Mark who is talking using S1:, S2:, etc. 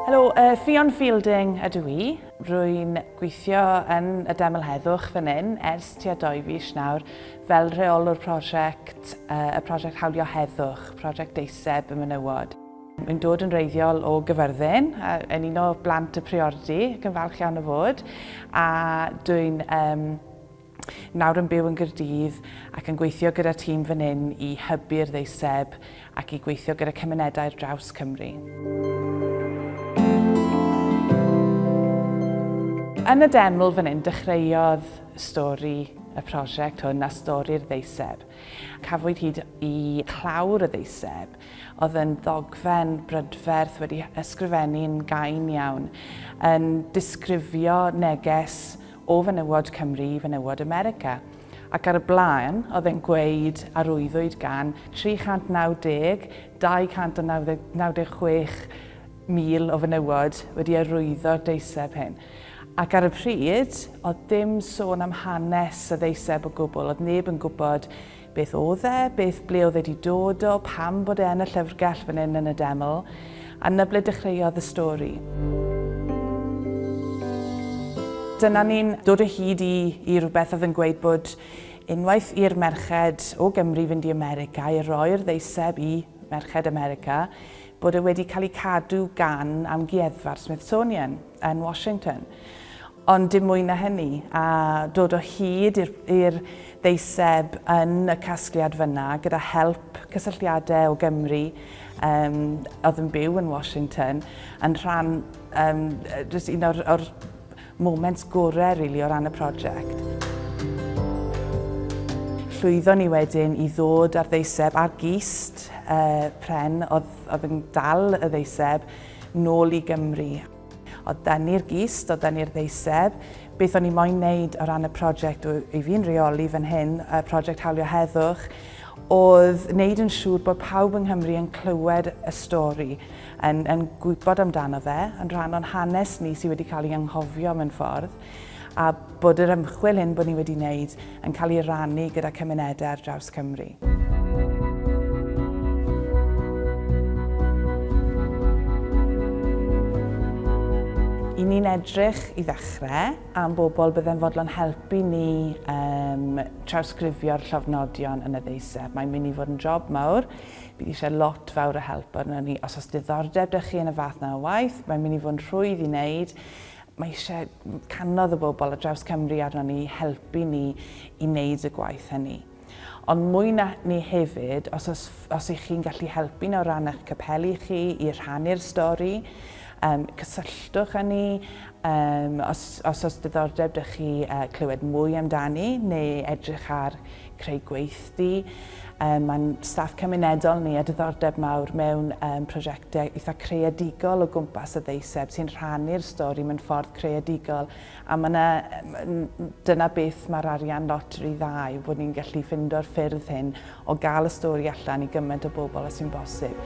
S1: Helo, uh, Ffion Fielding ydw i. Rwy'n gweithio yn y Deml Heddwch fan hyn ers tua doi fis nawr fel rheolwr prosiect, uh, y prosiect Hawlio Heddwch, prosiect deiseb y menywod. Mae'n dod yn reiddiol o gyfyrddin, yn un o blant y priordy, ac yn falch iawn o fod, a dwi'n um, Nawr yn byw yn Gaerdydd ac yn gweithio gyda'r tîm fan hyn i hybu'r ddeiseb ac i gweithio gyda cymunedau ar draws Cymru. Yn y deml fan hyn dechreuodd stori y prosiect hwn a stori'r ddeiseb. Cafwyd hyd i clawr y ddeiseb oedd yn ddogfen brydferth wedi ysgrifennu'n gain iawn, yn disgrifio neges o fenywod Cymru i fenywod America, ac ar y blaen oedd e'n gweud a rwyddwyd gan 390, 296 mil o fenywod wedi arwyddo'r deiseb hyn. Ac ar y pryd, oedd dim sôn am hanes y ddeiseb o gwbl, oedd neb yn gwybod Beth oedd e? Beth, ble oedd e 'di dod o? Pam bod e yn y llyfrgell fan 'yn yn y deml? A 'na ble dechreuodd y stori. Dyna ni'n dod o hyd i, i rhywbeth oedd yn gweud bod unwaith i'r merched o Gymru fynd i America, i roi'r ddeiseb i merched America, bod e wedi cael ei cadw gan amgueddfa'r Smithsonian. yn Washington. Ond dim mwy na hynny, a dod o hyd i'r ddeiseb yn y casgliad fyna gyda help cysylltiadau o Gymru um, oedd yn byw yn Washington, yn rhan um, just un o'r, or moments gorau really, o ran y prosiect. Llwyddo ni wedyn i ddod ar ddeiseb ar gist uh, pren oedd, oedd yn dal y ddeiseb nôl i Gymru. O dan i'r gist, o dan i'r ddeiseb. Beth o'n i moyn wneud o ran y prosiect i fi'n reoli fan hyn, y prosiect Hawlio Heddwch, oedd wneud yn siŵr bod pawb yng Nghymru yn clywed y stori, yn, yn gwybod amdano fe, yn rhan o'n hanes ni sydd wedi cael ei anghofio mewn ffordd. a bod yr ymchwil hyn bod ni wedi wneud yn cael ei rannu gyda cymunedau ar draws Cymru. I ni'n edrych i ddechrau am bobl byddai'n fodlon helpu ni um, trawsgrifio'r llofnodion yn y ddeiseb. Mae'n mynd i fod yn job mawr. Bydd eisiau lot fawr o help arno ni. Os oes diddordeb dych chi yn y fath na o waith, mae'n mynd i fod yn rhwydd i wneud. Mae eisiau canodd y bobl ar draws Cymru arno ni i helpu ni i wneud y gwaith hynny. Ond mwy na ni hefyd, os, os, os ych chi'n gallu helpu nawr ran eich capeli chi i rhannu'r stori, um, cysylltwch â ni, um, os, os os diddordeb dych chi uh, clywed mwy amdani neu edrych ar creu gweithdy. Um, Mae'n staff cymunedol ni a diddordeb mawr mewn um, prosiectau eitha creadigol o gwmpas y ddeiseb sy'n rhannu'r stori mewn ffordd creadigol a mae yna, dyna beth mae'r arian loteri dda yw bod ni'n gallu ffindo'r ffyrdd hyn o gael y stori allan i gymaint o bobl a sy'n bosib.